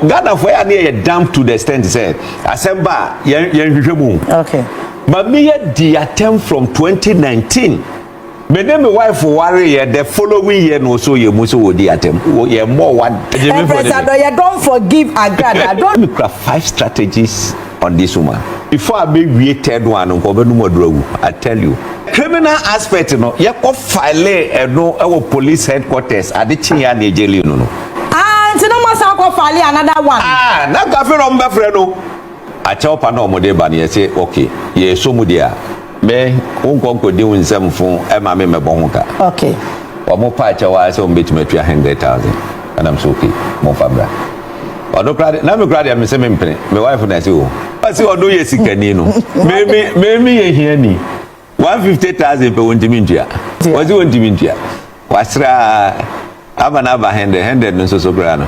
Ghana fo ya ne yɛ damp to the extent sɛ asɛm ba a yɛn yɛn hwehwɛ mu. Okay. Maame yɛ di atɛm from 2019. Me ne me wife ware yɛ the following year na ɔsɔ yɛ mu sɛ wɔ di atɛm. Wɔ yɛ mmɔ wa. Ɛmprɛsa dɔ yɛ don forgive agrada don. Me kura five strategies on this woman before a bɛwie third one no nka ɔbɛnom aduru awu I tell you. Criminal aspect no yɛkɔ file ɛno ɛwɔ police headquarters ade kye yɛ a na yɛgyɛli no no. Ah nti na moasan akɔ file another one. Ah na nka afei na wɔbɛfrɛ no akyɛwpa na wɔde ba no yɛse okay yɛsɔ mu deɛ a. Me, wo nkɔ nkɔdi wo nsam fo ma me mmɛbɔ ho ka. Okay. Wɔn paa kyɛw ara sɛ wɔn bɛtumi atua hundred thousand. Ɛnam so okay, momfa mbra. Ɔno koraa de, na me koraa deɛ mese me mpene. Me wife na ɛse o. Ɔse ɔno yɛ sikani no. Me me me me yɛ hiani. One fifty thousand pɛ wɔntumi ntua. Ɔse wɔntumi ntua. Wasra aba na aba hundred, hundred no nso so koraa no.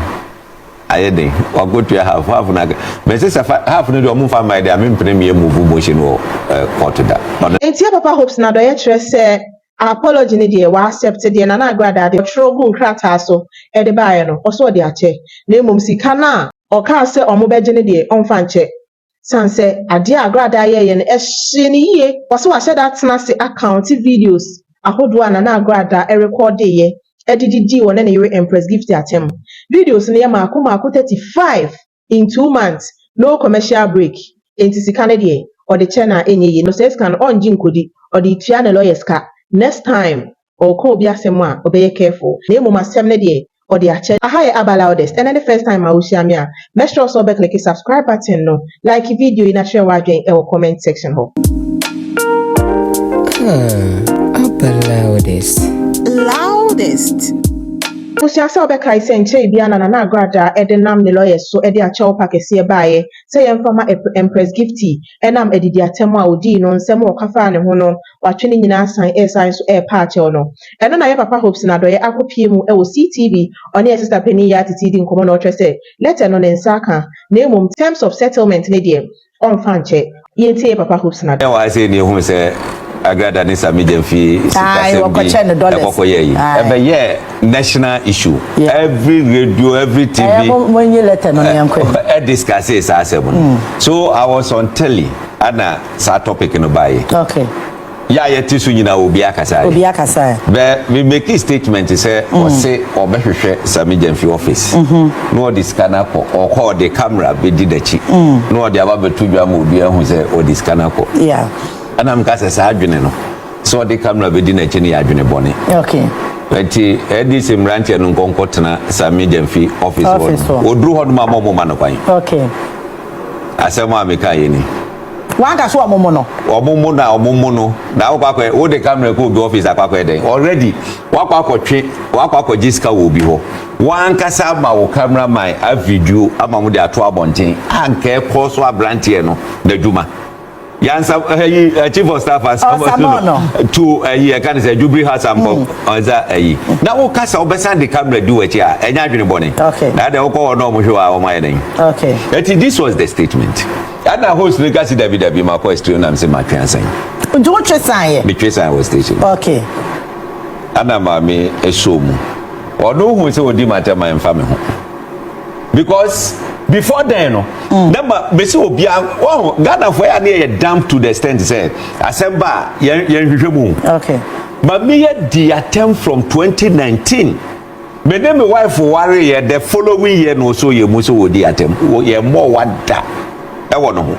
ayɛ den wakotua half half na mɛsi sɛ half no deɛ ɔmo nfa mmaa deɛ ame mpene mmiɛ move motion wɔ court da. Ntia papa hopes na dɔyɛ kyerɛ sɛ apology no deɛ wa accept deɛ nana agradaa deɛ ɔtwerɛ guu nkrataa so de baeɛ no ɔsɛ ɔde akyɛ na mmom sika no a ɔkaa sɛ ɔmo bɛgye no deɛ ɔnfa nkyɛ Esiane sɛ adeɛ a Agradaa yɛeɛ no, ɛhyee no yie. Ɔse wahyɛ da atena ase akaɔnte videos ahodoɔ a Nana Agradaa rekɔɔdeeɛ de didii ɔne ne yere Empress Gifty atam. Videos no yɛ maako maako thirty five in two months, no commercial break. Enti sika no deɛ, ɔde kyɛ no a ɛnyɛ yie. No saa sika no, ɔngye nkɔdi. Ɔde retua ne lawyers ka. Next time Ɔɔka obi asɛm a ɔbɛyɛ careful na mmom asɛm no deɛ ɔde akyɛ. Aha yɛ Aba Loudest, ɛnɛ ne first time a wohyia me a, mɛsrɛ wo sɛ wobɛkleke subscribe button no, like video yi na kyerɛ w'adwen wɔ comment section hɔ. Aba Loudest, loudest. Wosua sɛ wobɛkae sɛ nkyɛe biara na Nana Agradaa de nam ne lawyers so de akyɛ ɔpa kɛseɛ baeɛ sɛ yɛmfa ma Epr Empress Gifty ɛnam adidiatɛm a ɔdii no nsɛm ɔka faa ne ho no watwe ne nyinaa asan resan so repa akyɛw no. Ɛno na yɛn papa Hopson Adɔeɛ akɔpue mu wɔ CTV, ɔne yɛn sista panin Yaa Titi di nkɔmmɔ na ɔkyerɛ sɛ lɛtɛ no ne nsa aka na mmom terms of settlement no deɛ ɔmfa nkyɛ. Yɛntie yɛn papa Hopson Adɔeɛ. Ɛwɔ ha sei na yɛhuu sɛ Agrada ne Sammy Gyam fi sikasɛm bi ɛkɔ kɔ yɛɛ yi. Ɛbɛyɛɛ national issue. Every radio, every TV ɛdiscussee saa asɛm no. So I was on telly ɛna. saa topic no baeɛ. Okay. Yɛ a yɛte so nyinaa obiara kasaeɛ. Obiara kasaeɛ. Bɛ me make statement sɛ mm. ɔse ɔbɛhwehwɛ Sami Gyamfi office. Mm-hmm. Na ɔde sika no akɔ. Ɔkɔ ɔde camera bɛdi n'akyi. Mm. Na ɔde aba bɛto dwa ma obiara hu sɛ ɔde sika no akɔ. Yeah. Ɛna meka sɛ saa adwene no sɛ ɔde camera bɛdi n'akyi no yɛ adwene bɔne. Okay. nti ɛde sɛ mmeranteɛ no nkɔnkɔ tena Sami Gyamfi office hɔ no. Ɔduru hɔ no ma ma ɔmo ma no kwan. Okay. Asɛm a meka yɛ ni. Wanka sɛ ɔmo mo no. Ɔmo mo na ɔmo mo no na wokɔ akɔ wo de camera kɔ obi office akɔ akɔ dɛn already wakɔ akɔ twe wakɔ akɔ gye sika wɔ obi hɔ wankasa ama wo camera man a video ama mo de ato abɔnten anka ɛkɔ so abranteɛ no n'adwuma. yansa ɛyi eh, eh, chief of staff asamɔ no tu ɛyi eh, ɛka ne sɛ jubiri hasampɔ ɔnsa ɛyi na wo kasa ɔbɛsan de kamara di wɔ akyi a ɛnyɛ adwene bɔne na ɛdɛ wokɔ hɔ na ɔmo hwɛ wɔ a ɔmo ayɛ dɛn ɛti this was the statement ɛna host no kasi dabi dabi ma kɔ ɛsitiri nam se ma twɛn asan. nti wo twɛ san yɛ. mi twɛ san wɔ station. okay. ɛna maame ɛsɔ mu ɔno ohun sɛ odi ma tɛ ma nfa mi ho. because before then no mm. na ma mesi obi a wɔn ghana fo yɛ a ne yɛ damp to the extent sɛ asɛm ba a yɛn yɛn hwehwɛ mu okay ma mi yɛ di attempt from 2019 me ne me wife ware yɛ the following year na ɔsɔ yɛ mu sɛ wɔ di attempt yɛ mmɔ wa da ɛwɔ no ho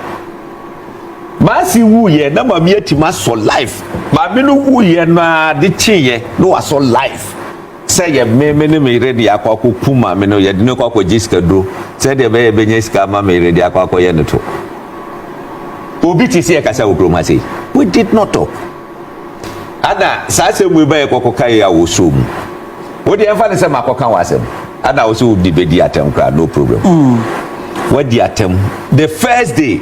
maasi wu yɛ na ma mi yɛ ti ma sɔ life maame no wu yɛ na de kye yɛ na wasɔ life. sɛ yɛ me me ne me yere de akɔ akɔku maame no yɛde no kɔ akɔgye sikaduro sɛdeɛ ɛbɛyɛ ɛbɛnya sika ama me yere de akɔ akɔyɛ no to obi te sɛ ɛkasa wɔ kurom ha sei we did not talk ana saa asɛm mu bɛyɛ kɔkɔka yi a wɔsoo mu wode ɛmfa no sɛ makɔka wɔ asɛm ana wo sɛ wode bɛdi atɛm koraa no problem mm. wadi atɛm the first day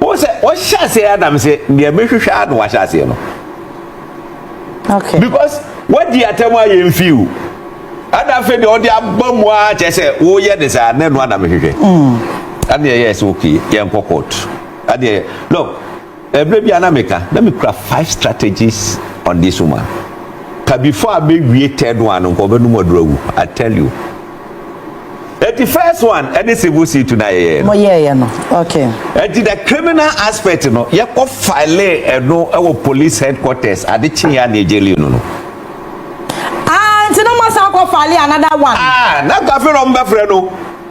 Wohu sɛ ɔhyɛ aseɛ Adam sɛ deɛ mehwehwɛ ara na wahyɛ aseɛ no. Okay. Because wadi atɛm a yɛn fi o. Ɛna afei deɛ ɔde aba mu ara kyerɛ sɛ woyɛ ne saa na ɛno ana mehwehwɛ. Mm. Ɛna yɛyɛ sɛ okay yɛnkɔ court. Ɛna yɛ no. Ɛberɛ bi a na meka, na mekura five strategies on this woman. Ka before a mɛwie third one no, nka ɔbɛnom aduro awu. I tell you. Eti first one ɛne civil suit na yɛyɛ no. Mo yɛyɛ no, okay. Eti the criminal aspect no, yɛkɔ file ɛno ɛwɔ police headquarters ade kye yɛ a na yɛgye lien no no. Ah, nti na mo asan akɔ file another one. Ah, na kafe na ɔmo bɛfrɛ no.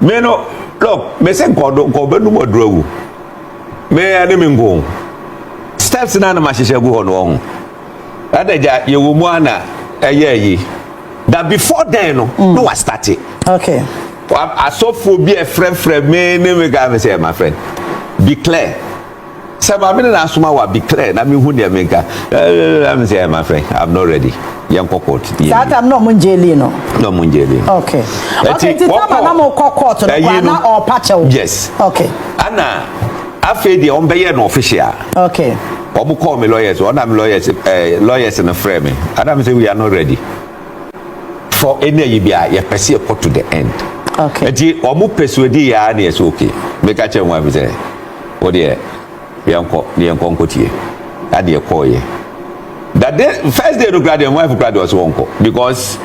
Me no look me se nkɔ do nkɔ bɛnum ɔduro awu me ɛne me nko steps na anam ahyehyɛ agu hɔ no ɔho ɛna gya yɛwɔ mu ana ɛyɛ ayi that before then no mm. no wa start it. okay. asɔfoɔ bi ɛfrɛfrɛ me ne me gaa me sɛ my friend be clear. Sɛ maame no na asoma wa bi clear na mehu deɛ menka ɛɛɛɛ sɛ ɛma fɛ I'm not ready yɛnkɔ court. saa tam na ɔmo ngye lii no. na ɔmo ngye lii. okay okay ti tama na mo kɔ court no kɔ ana ɔpa kyɛw. yes okay ana afei deɛ ɔmo bɛyɛ no official. okay ɔmo kɔɔ mi lawyers ɔna mi lawyers ɛɛ lawyers no frɛ mi ana mi sɛ we are not ready for any ayi bi a yɛpɛ si ɛkɔ to the end. okay eti ɔmo persuade yɛ a na yɛ sɛ okay meka kyɛn wɔn afisɛ. Wo deɛ yɛnkɔ na yɛnkɔ nkɔtie adeɛ kɔɔyɛ that day first day no koraa deɛ wife koraa deɛ ɔsɛ wɔnkɔ because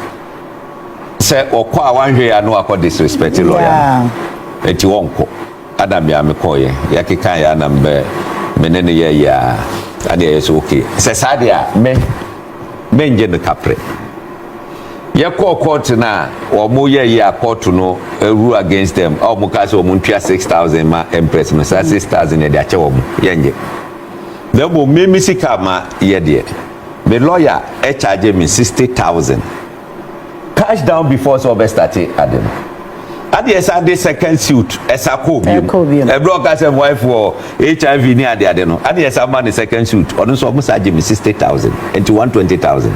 sɛ ɔkɔ a wanhwɛ yɛ ano akɔ disrespect lɔya ɛti wɔnkɔ adam yɛ ame kɔɔyɛ yɛkeka yɛ anam bɛ me ne ne yɛyɛ a adeɛ yɛ sɛ okay sɛ saa deɛ a me mengye no kaprɛ Yɛkɔɔ kɔɔto no a wɔn yɛ yɛ a kɔɔto no rule against them a wɔn kaa sɛ wɔn ntua six thousand ma empress no saa six thousand yɛde akyɛ wɔn yɛn gye na mmom me me sika ma yɛ deɛ me lawyer ɛkyagye me sixty thousand cash down before sɛ ɔbɛ start ade no adeɛ san de second suit ɛsa kɔɔ bi mu ɛbrɛ ɔka sɛ wife wɔ hiv ne adeade no adeɛ san ma ne second suit ɔno nso ɔmo sa gye me sixty thousand nti one twenty thousand.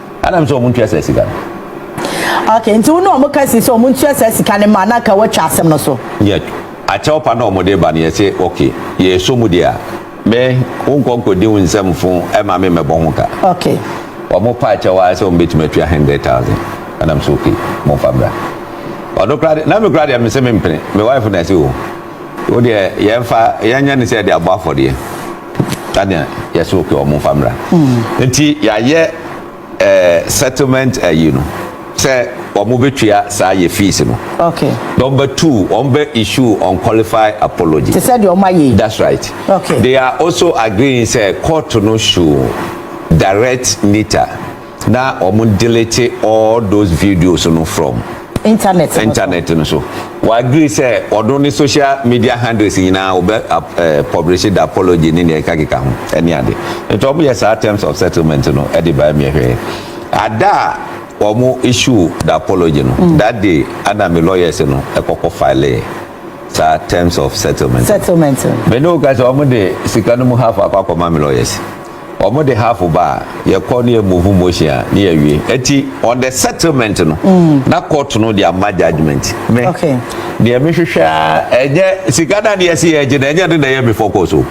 Ana m sɛ ɔmo ntua saa sika no. Okay nti wo ne ɔmo ka si sɛ ɔmo ntua saa sika no ma na ka watwa asɛm no so. Yɛ akyɛw pa na ɔmo de ba no yɛ se okay yɛ sɔ mu deɛ a me wo nkɔ nkɔdi wo nsɛm fo ɛma me mɛbɔ ho ka. Okay. Ɔmo pa akyɛw ara sɛ ɔmo bɛtumi atua hundred thousand ana m sɛ okay mo nfa mbra. Ɔno koraa deɛ na me koraa deɛ me se me mpene me wife na se oo wo deɛ yɛn fa yɛn nyɛ no sɛ yɛde abɔ afɔdeɛ. Ade a yɛsɛ okay wɔn nfa mmra. Nti yɛayɛ ɛɛ eh, settlement ayi no sɛ wɔn bɛtua saa yɛ fees no. Okay. Na wɔn bɛ tu wɔn bɛ issue unqualified apology. Te sɛ deɛ wɔn ayɛ yi. That's right. Okay. They are also agreeing sɛ court no should direct Nita. Na ɔmo delete all those videos no from. Internet no so. Internet no so. Wɔ agree sɛ ɔno ne social media handles nyinaa ɔbɛ publish the apology ne nea ɛkakeka ho ɛne ade. Nti ɔmo yɛ saa terms of settlement no ɛde baɛ meɛ hwɛɛ. Ada a ɔmo issue the apology no, that day ɛna me lawyers no ɛkɔkɔ filee saa terms of settlement no. Settlement no. Me ne wo ka sɛ ɔmo de sika no mu half akɔ akɔma me lawyers. Ɔmo de half ba a, yɛ kɔ ne yɛ move motion a ne yɛ wie. Ɛti on the settlement no, na court no de ama judgement. Me, deɛ me hwehwɛ ara, ɛnyɛ sika na ne yɛ se yɛ gye no, ɛnyɛ ɛno na ɛyɛ me focus o.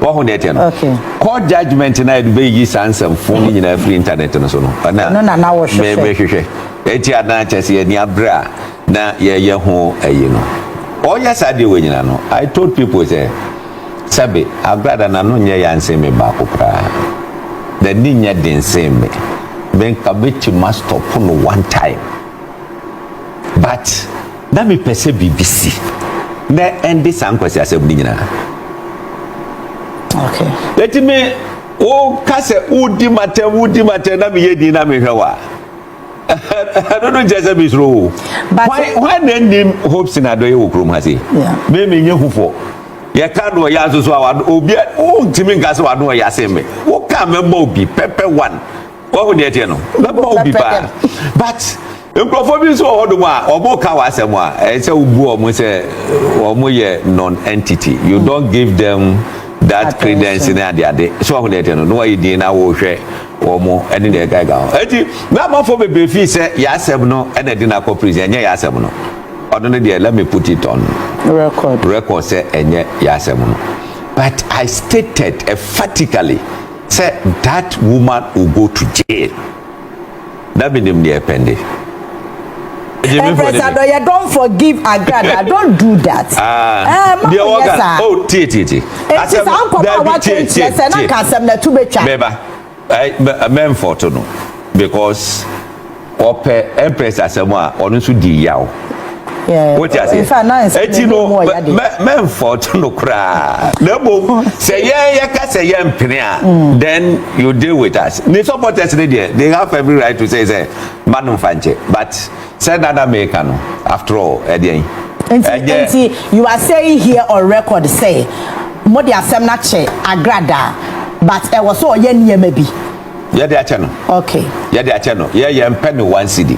Wahu deɛ ɛteɛ no? Court judgement no a yɛde bɛyiyi saa nsɛm fo no nyinaa afiri internet no so no, ɛno na na me me hwehwɛ. Ɛti a na kyɛ sɛ yɛ nia berɛ a na yɛ yɛ ho ɛyi no. Ɔyɛ saa deɛ wei nyinaa no, I told people sɛ, Sɛbe, Agrada na no nyɛ yan sen me baako koraa. N'ani nyɛ den sen me. Me nka mɛtumi astɔpo no one time. But, na mepɛ sɛ biribi si na ɛnde saa nkwasiasɛm no nyinaa. Okay. Eti me, woka sɛ wodi m'atɛm, wodi m'atɛm na meyɛ din na mehwɛ wo a. ɛno no nkyɛ sɛ mesuro o hwan na nnim hopes na adɔyɛ wɔ kurom ha sei me menyɛ hufɔ yɛka no ɔyɛ nso so a obi wontumi nka sɛ wano ɔyɛ ase me woka mɛma obi pɛpɛ one wahu deɛ teɛ no mɛma obi paa but nkurɔfoɔ bi nso wɔ hɔ dom a ɔmo ka wɔ asɛm a ɛyɛ sɛ wobu ɔmo sɛ ɔmo yɛ non entity you don't give them that credence ne adeade so wahu deɛ teɛ no na wayɛ din na wɔhwɛ wɔn mo ne deɛ ɛgaga ho eti na amanfoɔ bebree fii sɛ yasɛm no ɛna ɛde no akɔ prison ɛnyɛ yasɛm no ɔno ne deɛ let me put it on record record sɛ ɛnyɛ yasɛm no but I stated emphatically sɛ that woman will go to jail. na me nim deɛ pɛn de. Ambassador yɛ don forgive agrada don do that. Ah, ɛɛ ma wɔn yɛ saa. o oh, tie tie tie. eti eh, saa nkɔmɔ a wate nkyerɛ sɛ na ka asɛm na ɛtu bɛ twa. bɛba ɛɛ mɛnfɔto no because ɔpɛ ɛmpɛrɛs asɛm a ɔno nso di yaw. wote aseɛ ɛti no mɛmfɔɔto no koraa na mmom sɛ yɛn yɛka sɛ yɛmpene a mm. then you deal with us ne supporters ne deɛ they have every right to say sɛ ma no mfa nkyɛ but sɛ nana meka no after all ɛdeɛn ɛnyɛ nti you are saying here on record sɛ mo de asɛm no akyɛ agradaa but ɛwɔ sɛ ɔyɛ nneɛma bi yɛde akyɛ no okay yɛde akyɛ no yɛyɛ mpɛ ne one city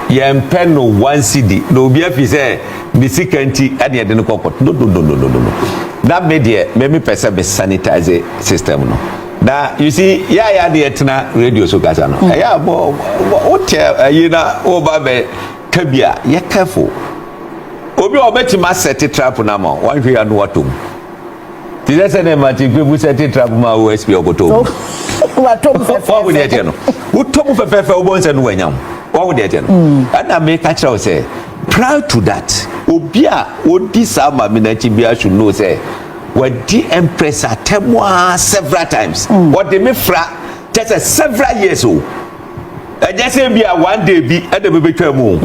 Yɛmpɛ no one cedi na obi afi sɛ ne sika nti ɛna yɛde no kɔ court no no no no no na me deɛ me me pɛ sɛ me sanitize system no na you see yɛ a yɛ ade yɛtena radio so kasa no ɛyɛ a bɔ wotɛ ayi na woba bɛ ka bi a yɛ careful obi a ɔbɛtumi asɛte trap no ama wɔnhwɛ yɛ ano watom Te sɛ sɛdeɛ Martin Kpebu sɛ tetrap ma wo SP ɔkɔtɔ mu. Watɔ mu fɛfɛɛfɛ. Wahu deɛ ɛteɛ no. Wotɔ mu fɛfɛɛfɛ wobɔ nsɛ no wanya ho. Wahu deɛ ɛteɛ no. Mm. Ɛna meka kyerɛ wo sɛ prior to that obi a ɔdi saa maame no akyi biara should know sɛ wadi empress atɛm a several times. Mm. Ɔde me fra kyɛ sɛ several years o. Ɛnyɛ sɛ bi a one day bi ɛna bɛbɛtwa mu o.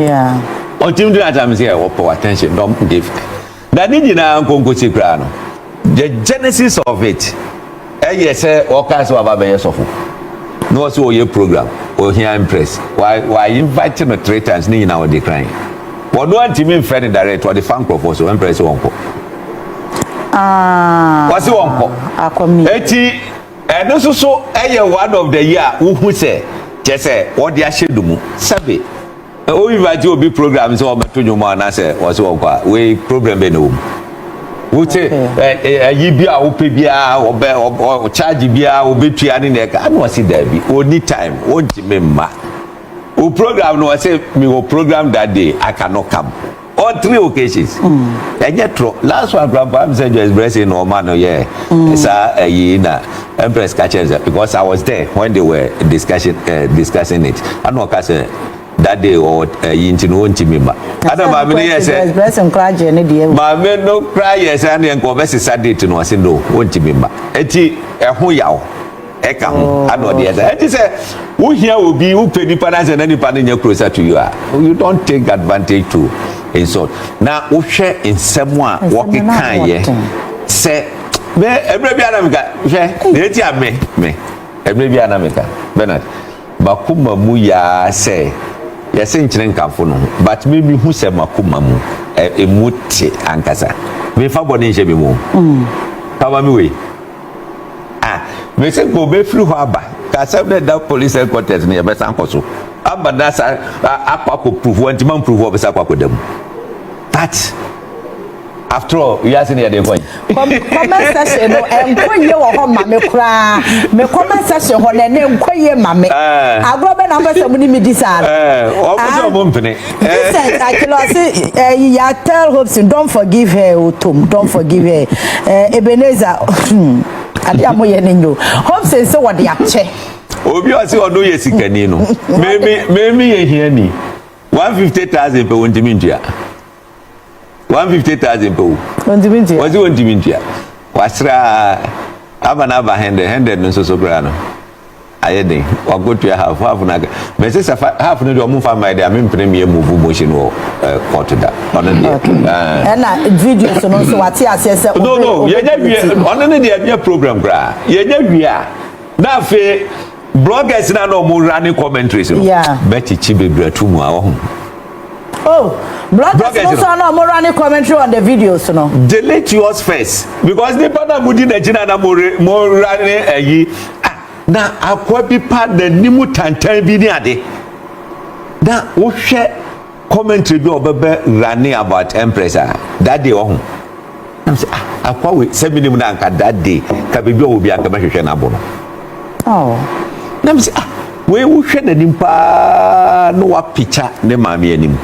Ɔntimi gyina atam sɛ wɔpɛ attention dɔm give. Na ne nyinaa nkonkosi koraa no, the genesis of it ɛyɛ sɛ ɔkaa sɛ waba bɛyɛ sɔfo na ɔsɛ ɔyɛ program ohia impress wa wa invite no three times ne nyinaa ɔde kran wɔn antumi mfrɛ no direct ɔde fa nkorɔfoɔ so ɛmprɛ sɛ wɔnkɔ wɔse wɔnkɔ eti ɛno nso so ɛyɛ one of the year wohu sɛ kyɛ sɛ wɔde ahyɛ no mu sɛbe Wo invite obi program sɛ ɔbɛto dwom anaasɛ wɔsɛ wɔnkɔ a wei problem bɛ na wɔ mu wote ayi bi a wopɛ biara ɔbɛ ɔcharge biara wobɛtua ne na ɛka ana ɔse daabi ɔni time ɔntimi mma wo program no ɔsɛ mewɔ program that day I cannot come all three occasions ɛnyɛ torɔ last one kura mpa mi sɛ joyce blessing na ɔma no yɛ saa ɛyi na empress kakyɛ sɛ because i was there when they were discussing uh, eh, discussing it ɛna ɔka sɛ that day ɔwɔ ɛyi nti no wɔnti mi ma ɛna maame no yɛ sɛ maame no kura yɛ sɛ ɛna nkɔ ɔbɛ sisa date no ɔsi no wɔnti mi ma eti ɛho yaw. ɛka ho ana ɔde ɛda ɛte sɛ wohia obi wopɛ nipa no asɛ na nipa no nyɛ closer to you a you don't take advantage to insult na wohwɛ nsɛm a wɔkekaeɛ sɛ me ɛberɛ bi ana meka hwɛ na ɛti a me me ɛberɛ bi ana meka bernard makoma mu yaa sɛ yɛse nkyerɛ nkamfo no ho but me mehu sɛ makoma mu ɛmu te ankasa mefa bɔne nhyɛ me mu mm. pama me wei Ah, mese nka obefiri hɔ aba. Ka asɛm no ɛda police headquarters no yɛbɛsan akɔ so. Aba na sa akɔ akɔ proof hɔ nti man proof hɔ ɔbɛsa akɔ akɔda mu. That after all wiase no yɛde kɔ yi. comment section no ɛnkɔ yie wɔ hɔ ma me koraa me comment section hɔ na ɛnɛ nkɔ yie ma me. Eh. agorɔ bɛ na mpɛ sɛ mo ni mi di saa. ɛɛ eh, ɔmo sɛ ɔmo mpene. Vincent Akilo ɔse ɛyi ya tell Hopeson don't forgive her o tom don't forgive her ɛɛ Ebenezer hmm ade a mo yɛ ne nyo Hopeson se wɔde akyɛ. Obi ɔse ɔno yɛ sikani no mɛmi mɛmi yɛ hiani one fifty thousand pɛ wɔntumi ntua. one fifty thousand pɛ o wɔntumi ntua wɔsi wɔntumi ntua wasra aba na aba hundred hundred no nso so koraa no ayɛ den wakotua half half na mɛ sisan half no deɛ ɔmo nfa mmaa deɛ ame mpene mmiɛ move motion wɔ ɛɛ kɔɔto da ɔno deɛ ɛɛ. ɛna video so no nso wate aseɛ sɛ. no no yɛnyɛ wie ɔno ne deɛ ɛnyɛ program koraa yɛnyɛ wie a na afei. Bloggers na na ɔmo running commentaries no. Yeah. Bɛkyekye bebree ato mu a ɔho. Oh, bloggers Bloggers no no. so na ɔmo running commentary on the videos no. delete yours first because nipa na mo di n'akyi na na mo re mo ra ne ayi ah na akwa bi pa n'anim tantan bi ne ade na wohwɛ commentary bi a ɔbɛbɛ rane about empress a that day ɔho nam sɛ ah akwa wei sɛ menim no anka that day ka biribi a ɔwɔ bi anka mɛhwehwɛ no abo no oh. nam sɛ ah wei wohwɛ n'anim paa na wapikya ne maame anim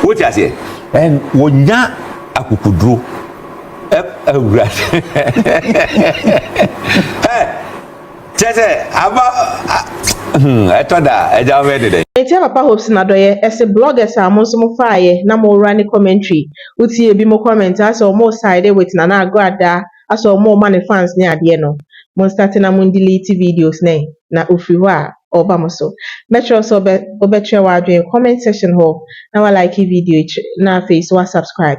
wote aseɛ ɛn wɔnya akukuduro awurade Kyerɛ sɛ, aba a hmm, ɛtɔ da a, agya wobɛyɛ ne dɛn? Metia Papa Hope sen adɔyɛ ɛse bloggers a mo nso mo faayɛ na mo wura ne commentary wo tie ebi mo comment a asɛ ɔmo side with Nana Agradaa asɛ ɔmo ma no fans ne adeɛ no mo nstate na mo ndelete videos no ɛn na ofiri hɔ a ɔba mo so mɛkyerɛ wo sɛ ɔbɛ ɔbɛkyerɛ w'adwen comment section hɔ na wa like video yi kyerɛ na afei nso wa subscribe